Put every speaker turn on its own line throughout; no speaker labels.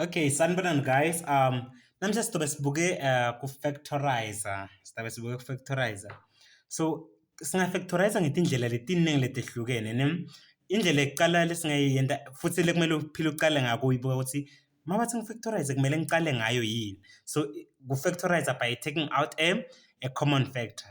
Okay, sanibonani guys. Um namhlanje sizobe sibuke uh, ku factorizer. Sizobe sibuke ku factorizer. So singa factorizer ngetindlela letiningi letehlukene, ne? Indlela yokuqala lesingayiyenta futhi lekumele uphile uqale ngako uyibuka ukuthi mabathi ngifactorize kumele ngiqale ngayo yini. So ku factorizer by taking out a, a common factor.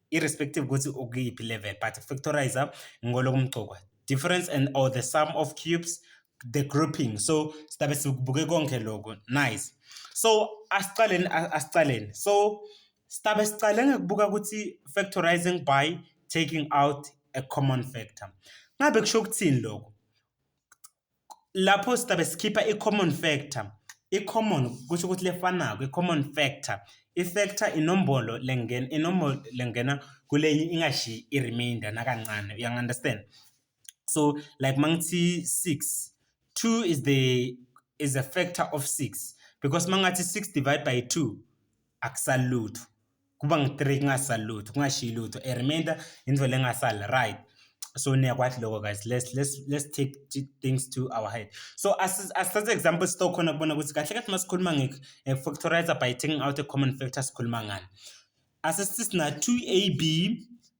irrespective ukuthi ukuyiphi level but factorizer ngolokumgcokwa difference and or the sum of cubes the grouping so sidabe sikubuke konke lokho nice so asiqaleni asiqaleni so sidabe siqale ngekubuka ukuthi factorizing by taking out a common factor ngabe kusho ukuthini lokho lapho sitabe sikhipha i-common factor i-common kusho ukuthi lefanako i-common factor i-factor inombolo lengena inombolo lengena kulenye ingashiyi i-remainder nakancane uyangi-understand so like mangithi 6 2 is the is a factor of 6 because mangathi 6 divided by 2 akusali lutho kuba ngu-three kungasali lutho kungashiyi lutho a remainder into lengasali right so niyakwazi lokho guys let's, let's, let's take things to our head so asithathe example sitokhona kubona ukuthi kahle kahle masikhuluma nge-factorizer by taking out a common factor sikhuluma ngani asisithi sina 2ab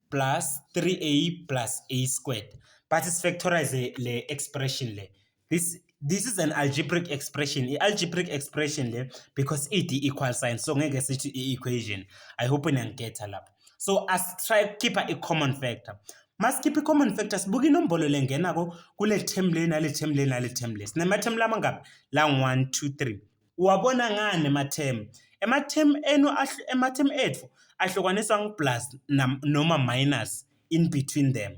plus 3a plus a squared but sifactorize le expression le this this is an algebraic expression i-algebraic expression le because id equal sign so ngeke sithi i-equation i hope niyangiketha lapho so asitry ukukhipha i-common factor masikhiphe i-common factor sibuke inombolo lengenako kule term le nale term le nale term le sinema-term lamangaphi la ngu-one two three uwabona ngani ema-term ema-term enu ema-term ethu ahlukaniswa ngu-plus noma minus in between them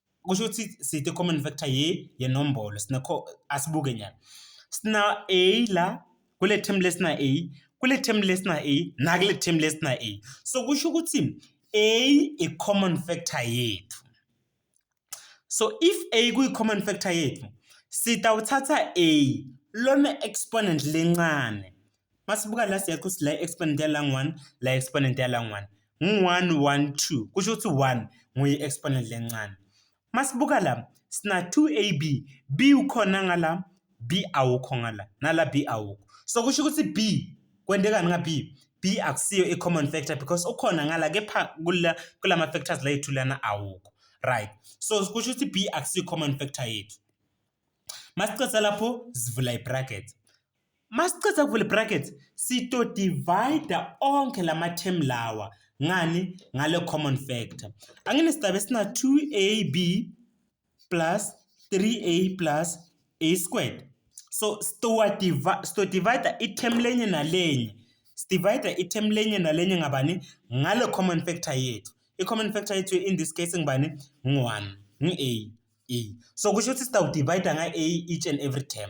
kusho ukuthi sithe common factor ye yenombolo sine asibuke nyana sina a la kule term lesina a kule term lesina a nakule term lesina a so kusho ukuthi a i common factor yethu so if a kuyi common factor yethu sitawuthatha a lona exponent lencane masibuka la siyathi ukuthi la exponent yalang 1 la exponent yalang 1 ngu-1 1 2 kusho ukuthi 1 nguyi-exponent lencane masibuka la sina 2ab b ukhona ngala b awukho ngala nala b awukho so kusho ukuthi b kwentekani nga b b akusiyo i-common factor because ukhona ngala kepha kula ma-factors layethu lana awukho right so kusho ukuthi b akusiyo i-common factor yethu masiqeda lapho sivula i-bracket Masiceda kuvula brackets sito divide onke lama term lawa ngani ngale common factor. Angine sigaba esina 2ab plus 3a plus a squared. So sito divide sito divide i-term lenye nalenye. Sidivide i-term lenye nalenye ngabani ngale common factor yethu. I-common factor yethu in this case ngibani ngu-1 ngi-a. a. So kusho ukuthi sitawudivide nga-a each and every term.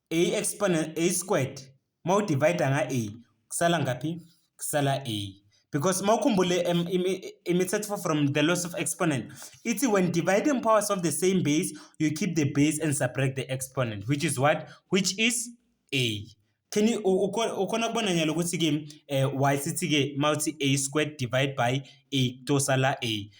a exponent a squared uma udivide nga a kusala ngaphi kusala a because uma ukhumbule imithetho from the loss of exponent ithi when dividing powers of the same base you keep the base and subtract the exponent which is what which is a can you ukhona kubona nyalo ukuthi-ke um y sithi-ke uma uthi a squared divide by a kutosala a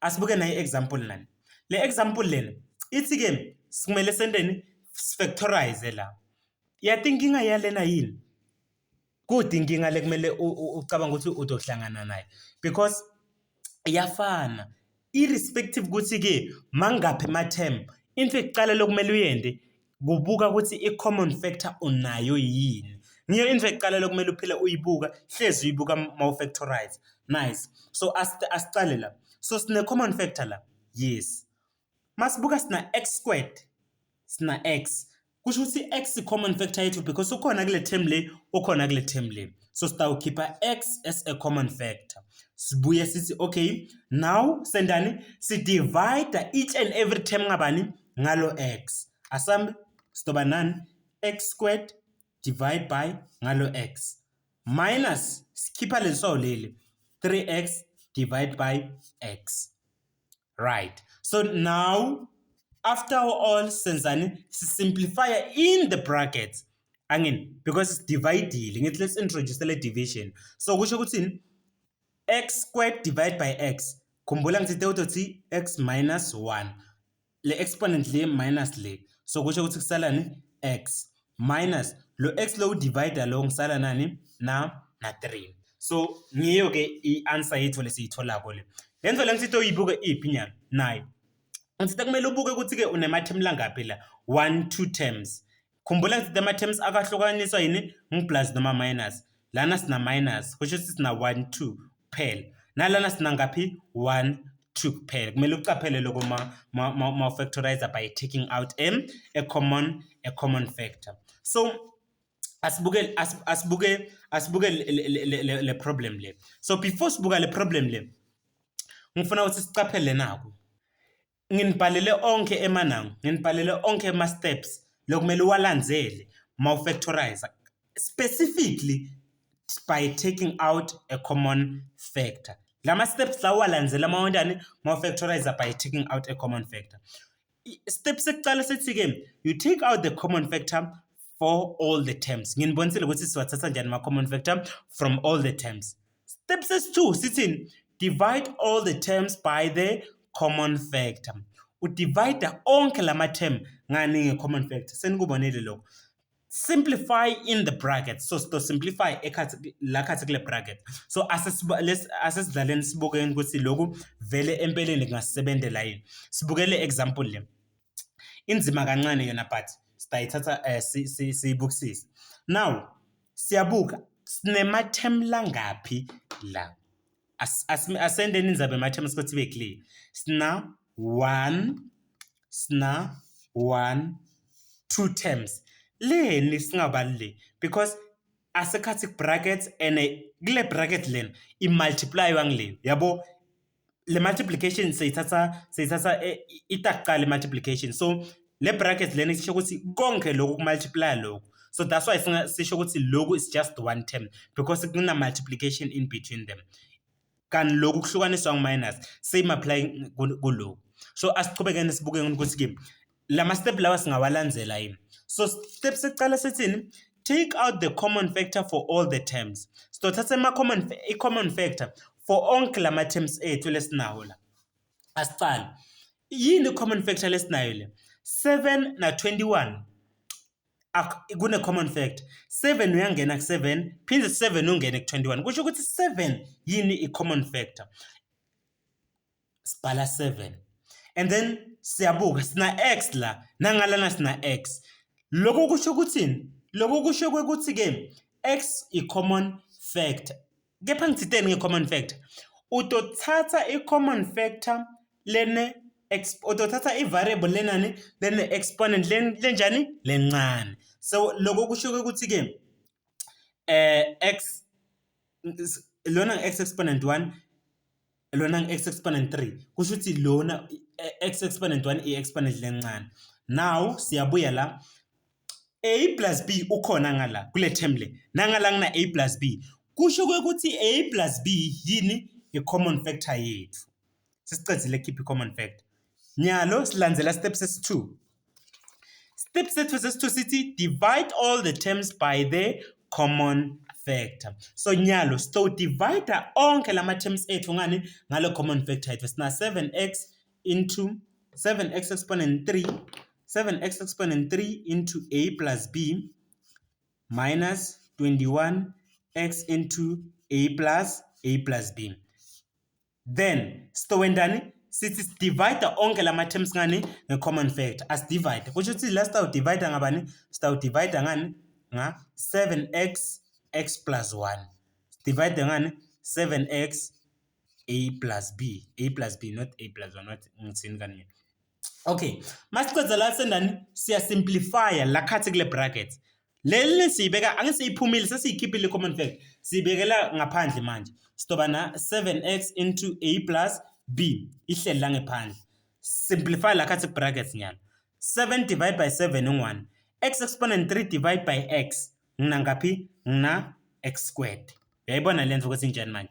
asibuke nayi example nani le example lena ithi ke sikumele senteni factorize la yati inkinga yalena yini kudi inkinga lekumele ucabanga ukuthi udohlangana naye because iyafana irrespective ukuthi ke mangaphi ama term into ekuqala lokumele uyende Kubuka ukuthi i-common factor unayo yini. Ngiyo into ekuqalele kumele uphile uyibuka, hlezi uyibuka mawufactorize. Nice. So asiqale la. So sine-common factor la. Yes. Masibuka sina x squared, sina x. Kusho ukuthi x i-common factor yethu because ukhona kule term le, ukhona kule term le. So sitawukhipha x as a common factor. Sibuye sithi okay, now sendani? Sidivide each and every term ngabani? ngalo x asambe sizoba nani x squared divide by ngalo x minus sikhipha leso leli 3x divide by x right so now after all senzani si simplify in the brackets angin because it's dividile ngithi let's introduce le division so kusho ukuthi x squared divided by x khumbula ngithe uzothi x minus 1 le exponent le minus le so kusho ukuthi kusalani x minus lo x lo divider lo ngisala nani na na 3 so ngiyo ke i-answer yethu lesiyitholako le le nto le ngisithe uyibuke iphi nyalo nayo ngisithe kumele ubuke ukuthi-ke unemathemu langaphi la 1 2 terms Khumbula ukuthi ama-terms akwahlukaniswa yini ngu-plus noma minus. Lana sina minus, kusho ukuthi sina 1, 2 kuphela. Nalana sina ngaphi? 1, 2 kuphela. Kumele ucaphele loko ma, ma, ma, ma factorizer by taking out a, a common, a common factor. So, asibuke asibuke asibuke le problem le so before sibuka le problem le ngifuna ukuthi sicaphele naku nginibhalele onke emanango nginibhalele onke ama-steps lokumele uwalandzele ma ufactorize specifically by taking out a common factor la ma-steps la uwalandzela ma wentani ma ufactorize by taking out a common factor step sekuqala sithi-ke you take out the common factor for all the terms nginibonisile ukuthi siwathatha njani ma-common factor from all the terms Step sesi-2 sithini? Divide all the terms by the common factor. Udivida onke la ma-term ngani nge-common factor. Senikubonile lokho. Simplify in the bracket. So sito simplify ekhathi la khathi kule bracket. So asesidlaleni sibukeni ukuthi lokhu vele empeleni kungasebenzela yini. Sibukele example le. inzima kancane yona but sitayithatha um eh, siyibukisise now siyabuka sinema-term langaphi la asendeni inzaba ema-term sikothi ibe clear sina one sina one two terms leni singabaluleki because asekhathi bracket and kule bracket lena imultiplywa ngile yabo le multiplication seyithatha seyithatha eh, ita kuqala le multiplication so le bracket lena isisho ukuthi konke lokhu kumultiply lokhu so that's why sisho ukuthi lokhu is just one term because kuna multiplication in between them kanti lokhu kuhlukaniswa ngu-minus same apply kulokhu so asiqhubekeni sibuke ukuthi-ke la ma-step lawa singawalandzela yini so step sekucala sithini take out the common factor for all the terms sizothatha ama-common i-common factor for onke la ma-terms ethu lesinawo la asicale yini i-common factor lesinayo le 7 na 21 kune-common factor 7 uyangena ku-7 phinde 7 ungene ku-21 kusho ukuthi 7 yini i-common factor sibhala 7 and then siyabuka sina x la nangalana sina x lokho kusho ukuthini lokho kusho ukuthi ke x i common factor kepha ngithinteni nge common factor utothatha i common factor lene utothatha i variable lenani lene exponent lenjani lencane so lokho kusho ukuthi ke eh x lona x exponent 1 lona ngi-x exponent 3 kusho ukuthi lona x exponent 1 i-exponent lencane now siyabuya la a plus b ukhona ngala kule term le nangala ngina a plus b kusho ukuthi a plus b yini i-common factor yethu sesiqedile keep i-common factor nyalo silandzela step sesi-2 Step sethu sesithu sithi divide all the terms by the common factor. So nyalo sito divide onke lama terms ethu ngani ngalo common factor ethu sina 7x into 7x exponent 3 7x exponent 3 into a plus b minus 21x into a plus a plus b. then sitowendani sithi sidivide onke la ma-terms ngani nge-common factor asidivide kusho ukuthi la sitawudivida ngabani sitawudivida ngani nga-seven x x plus one sidivide ngani seven x a plus b a plus b not a plus one not ngithini kani mina Okay, masiqedza la sendani siya simplify la khathi kule bracket. Leli siyibeka angisiyiphumile sesiyikhiphile common fact. Sibekela ngaphandle manje. Sidoba na 7x into a plus b ihleli la ngephandle. Simplify la khathi brackets nyalo. 7 divided by 7 u1. X exponent 3 divided by x ngina ngaphi? Ngina x squared. Uyayibona lento ukuthi injani manje?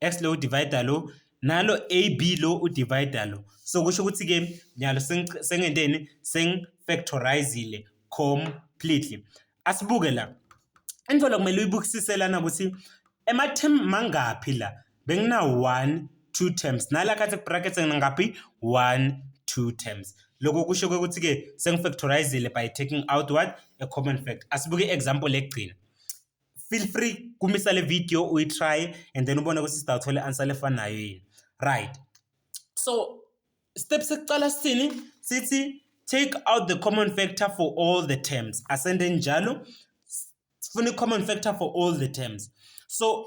X lo divider lo nalo AB lo udivider lo so kusho ukuthi ke nyalo sengenteni seng factorizile completely asibuke la into la kumele uyibukisise lana ukuthi ema term mangaphi la bengina 1 two terms nala khathi brackets ngaphi 1 two terms lokho kusho ukuthi ke sengifactorizile by taking out what a common fact asibuke example egcina feel free kumisa le video uyitry and then ubone ukuthi sida uthole answer lefanayo yini right so step sekuqala sithini sithi take out the common factor for all the terms asende njalo sifuna i-common factor for all the terms so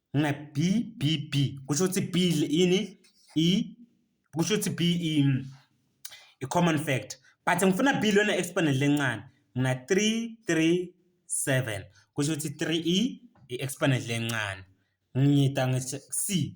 na b b b kusho ukuthi b yini e kusho ukuthi b i mm, common factor but ngifuna b lona exponent lencane ngina 3 3 7 kusho ukuthi 3 e i-exponent lencane ngiyita ngithi c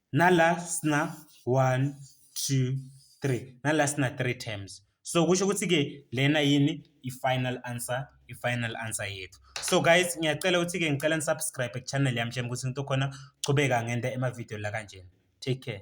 nala sina 1 2 3 nala sina 3 terms so kusho ukuthi ke lena yini i-final answer i-final answer yethu so guys ngiyacela ukuthi ke ngicela nisubscribe ku-channel yami njengoba ukuthi ngitho khona chubeka ngente emavideo la kanjena take care